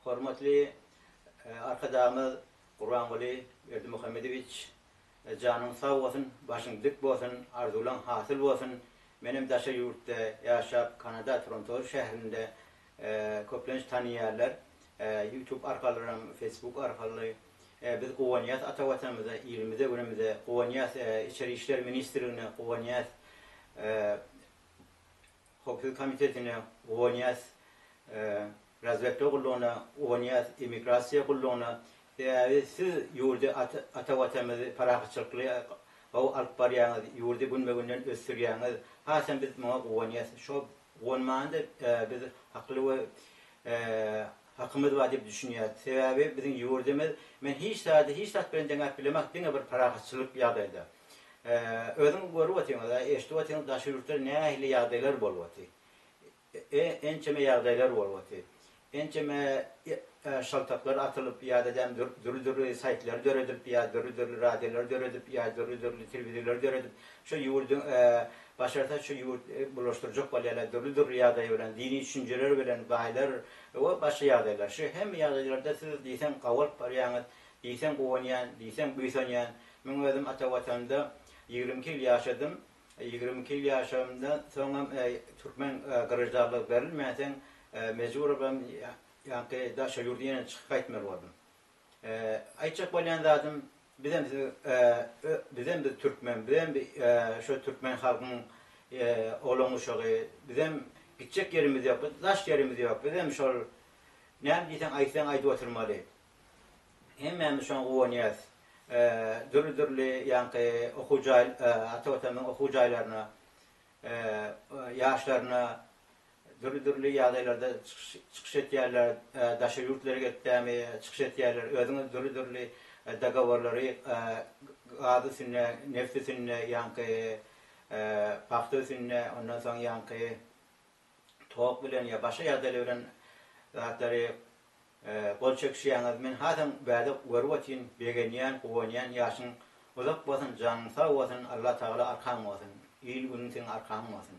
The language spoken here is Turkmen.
Hormatly Arkadagymyz Gurbanguly Berdimuhamedowiç janyň sag bolsun, başyň dik bolsun, arzuwlaň hasyl bolsun. Menem daşary ýurtda ýaşap, Kanada Trontoz şäherinde köplenç tanyýarlar, YouTube arkalyram, Facebook arkaly. Biz guwanýas ata Watanymyza, ilimize, günümize, guwanýas Içeri işler ministrligine, guwanýas Hokgeý komitetine, UNIAS, Razwedka gullugyna, UNIAS, Immigrasiýa gullugyna, sebäbi siz ýurdy ata watanymyzy parahatçylykly gowy alyp barýaňyz, ýurdy günbe-günden ösdürýäňiz, hasam biz muňa guwanýas, şo guwanmanda biz hakly we Hakymyz bar diýip düşünýäris. Sebäbi biziň ýurdumyz men hiç zady hiç zat bilen deňäp bilemok, diňe bir parahatçylyk ýagdaýda. Özüňiz görüp otyryňyz, eşidip otyryňyz daşary ýurtda nähili ýagdaýlar bolup otyr. Ençeme ýagdaýlar bolup otyr. Ençeme şaltaklar atylyp ýa-da däm dürli-dürli saýtlar döredilip ýa dürli-dürli radiolar döredip ýa dürli-dürli telewizorlar döredip şu ýurdy başarsa şu ýurt bulaşdyrjak bolýarlar dürli-dürli ýagdaý bilen dini düşünjeler bilen baýlar Ýowa başga ýagdaýlar. Şu hemme ýagdaýlarda siz diýseň gabalyp barýaňyz, diýseň guwanýan, diýseň buýsanýan. Men özüm ata watanda ýigrimi iki ýyl ýaşadym. Ýigrimi iki ýyl ýaşamdan soňam türkmen graždanlygy berilmänsoň mejburabam ýaňky daşary ýurda ýene çykyp gaýtmaly boldum. Aýtjak bolýan zadym bizem siz bizem biz türkmen bizem şo türkmen halkyň oglan guşagy bizem gitjek ýerimiz ýok biz daş ýerimiz ýok bizem şol näme diýseň aýtsaň aýdyp oturmaly hemmämiz şoňa guwanýas dürli dürli ýaňky okuw jaý ata watanymyzyň okuw jaýlaryna ýaşlaryna Dürli-dürli ýagdaýlarda çykyş etýärler, daşary ýurtlara gitdämi çykyş etýärler, özüňiz dürli-dürli dogoworlary gaz üstünde, neft üstünde, ýaňky pagta üstünde, ondan soň ýaňky tok bilen ýa başga ýagdaýlar bilen zatlary gol çekişýäňiz. Men hasam bäde görüp otyryn, begenýän, guwanýan. Ýaşyň uzak bolsun, janyň sag bolsun, Allatagala arkaň bolsun. Il-günüň seň arkaň bolsun.